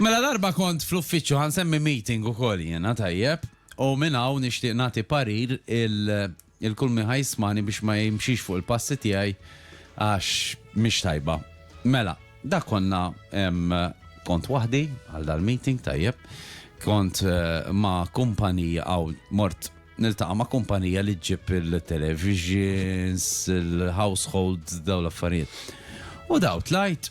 Mela darba kont fl-uffiċċju ħa nsemmi meeting ukoll jiena tajjeb u minn hawn nixtieq nagħti parir il il kull min ħa jismani biex ma jimxix fuq il-passi tiegħi għax mhix tajba. Mela, dak konna kont waħdi għal dal-meeting tajjeb, kont ma' kumpanija aw mort niltaqa' ma' kumpanija li ġġib il-televisions, il-households dawn l-affarijiet. U daw tlajt,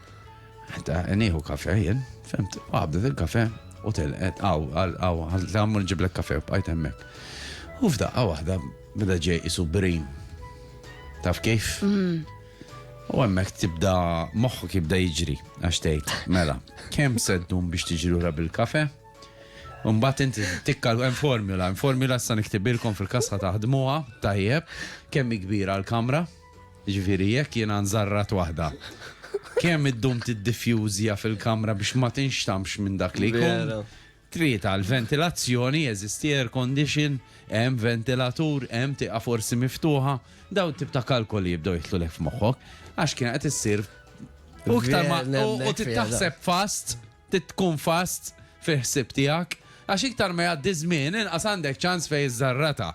Ta' nieħu kafe jien, fimt, qabdet il-kafe u telqet għaw, għaw, għammur ġiblek kafe u bqajt hemmhekk. U f'daqqa waħda beda ġej isu brin. Taf kif? Mm. U hemmhekk tibda moħħu kibda jiġri għax tgħid, mela, kemm seddum biex tiġri lura bil-kafe? Umbat inti tikkal hemm formula, hemm formula sa niktibilkom fil-kasħa taħdmuha tajjeb kemm kbira l-kamra. Jiġifieri jekk jiena nżarrat waħda, kemm iddum tiddifjużja fil-kamra biex ma tinxtamx minn dak li jkun? Vera. Tlieta, l-ventilazzjoni, jeżisti air condition, hemm ventilatur, hemm tieqa forsi miftuħa, dawn it-tip ta' kalkoli jibdew jidħlulek f'moħħok, għax kienet qed issir u iktar ma Vera, nemmek u fiha dan. tittaħseb fast, trid tkun fast fil-ħsieb tiegħek, għax iktar ma jgħaddi ż-żmien inqas għandek ċans fejn iżżarratha.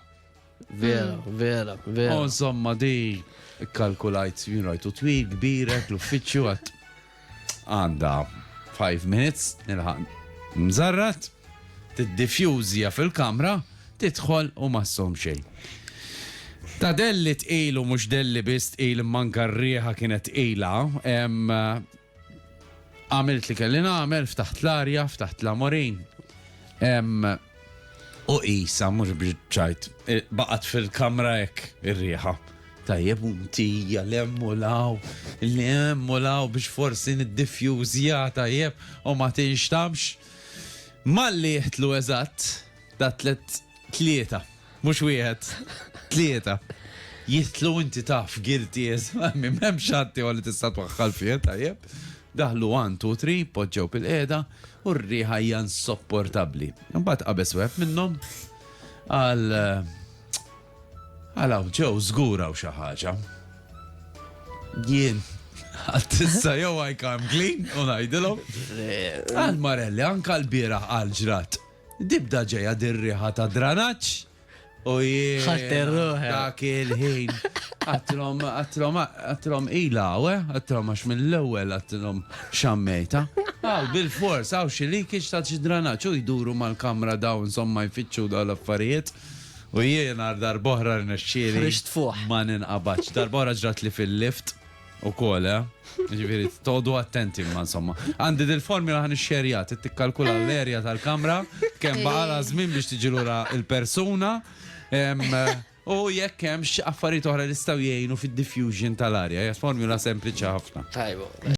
Vera, mm. vera, vera. Oh, insomma, di kalkulajt, jien rajtu twil, kbirek, l-uffiċċju għat għanda 5 minutes, nilħan mżarrat, t-diffjuzja fil-kamra, titħol u massom xejn. Ta' delli tqilu mux delli bist il manka rriħa kienet tqila, Għamilt li kelli nagħmel, ftaħt l-arja, ftaħt l-amorin. U qisha mhux biex baqgħet fil-kamra hekk ir-riħa tajjeb u mtija l-emmulaw, l-emmulaw biex forsi nid-diffjuzja tajjeb u ma tinxtamx. Malli jihtlu eżatt, da tlet tlieta Mhux wieħed. Tlieta. Jidħlu inti taf guilty as m'hemmx ħadd ieħor li tista' twaħħal fih, tajjeb. Daħlu 1, 2, 3, poġġew pil-qiegħda u r-riħa hija insopportabbli. Imbagħad qabeż wieħed minnhom għal għal ġew żgur hawn xi ħaġa. Jien Għattissa jow għajkam clean, unajdilom. Għal Marelli, anka l-bira għal ġrat. Tibda ġejja dir-riħa ta' dranaġġ u jien. Ħadt ir-ruħek. Dak il-ħin. Għattilhom, għattilhom, għattilhom ilha hawn, eh, għattilhom għax mill-ewwel għattilhom xammejta. Hawn bilfors, hawn xi leakage ta' xi dranaġġ u jduru mal-kamra dawn insomma jfittxu dawn l-affarijiet. U jiena għal darb'oħra rnexxieli. Ħriġt fuħ. Ma ninqabadx. Darb'oħra ġratli fil-lift. U kol, eh? Ġifiri, todu attenti ma insomma. Għandi dil-formula għan xerja, t-tikkalkula eh. l-erja tal-kamra, kem baqala zmin eh. biex tiġilura il-persuna, u jekk hemm affarijiet oħra li staw jgħinu fid-diffusion tal-arja, hija formula sempliċi ħafna. Tajbu.